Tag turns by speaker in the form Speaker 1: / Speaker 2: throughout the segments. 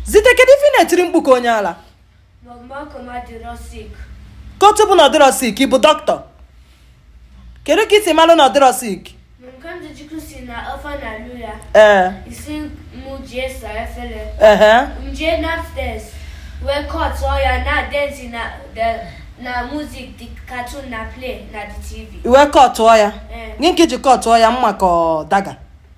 Speaker 1: zite kedu ife ị na-etiri mkpu ka onye
Speaker 2: ala ka otu bụ
Speaker 1: na ọ dịrọ sick ị bụ dọkịta kedu ka i si malụ na ọ dịrọ sick
Speaker 2: ee ehe m jee n'upstairs wee kọtụọ ya na-dance na the- na music the cartoon na play na the tv ị wee kọtụọ ya
Speaker 1: Ee. gị nke i ji kọtụọ ya mma ka ọ daga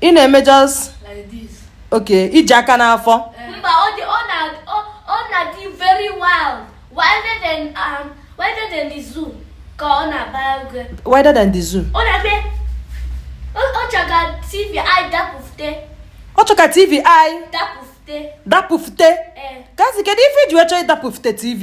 Speaker 3: ị
Speaker 1: na-eme
Speaker 3: just ok i ji aka
Speaker 1: n'afọ mba ọ na-adị very
Speaker 2: wild wilder than um, wilder than the zoo ka ọ na-agba egwu wilder than the zoo ọ na-eme ọ chọ ka tv anyị
Speaker 1: dapụfute ọ chọ ka tv anyị dapụfute dapụfute eh. Kamsi kedu ife i ji wee chọọ ịdapụfute tv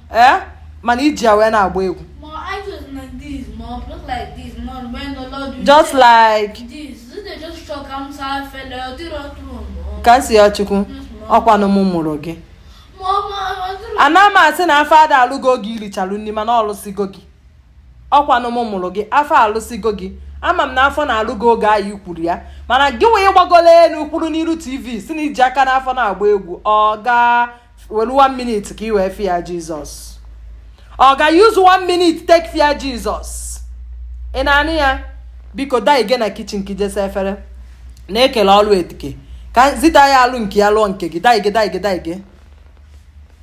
Speaker 1: ee mana i ji ya wee na-agba
Speaker 3: egwu just like
Speaker 1: Kamsiyọchukwu ọkwanụ m mụrụ gị ana m asị na afọ ada alụ gị oge i richalu nri mana ọ lụsigo gị ọkwanụ m mụrụ gị afọ alụsigo gị ama m na afọ na-alụ gị oge anyị kwuru ya mana gị nwa gbagola elu kwụrụ n'iru tv sị na i ji aka n'afọ na-agba egwu ọ gaa were one minute ka ị wee fear Jesus ọ ga use one minute take fear Jesus ị na-anụ ya biko daa ige na kitchen ka i je saa efere na e kele ọlụ etike ka zita ya alụ nke ya lụọ nke gị daige daige daige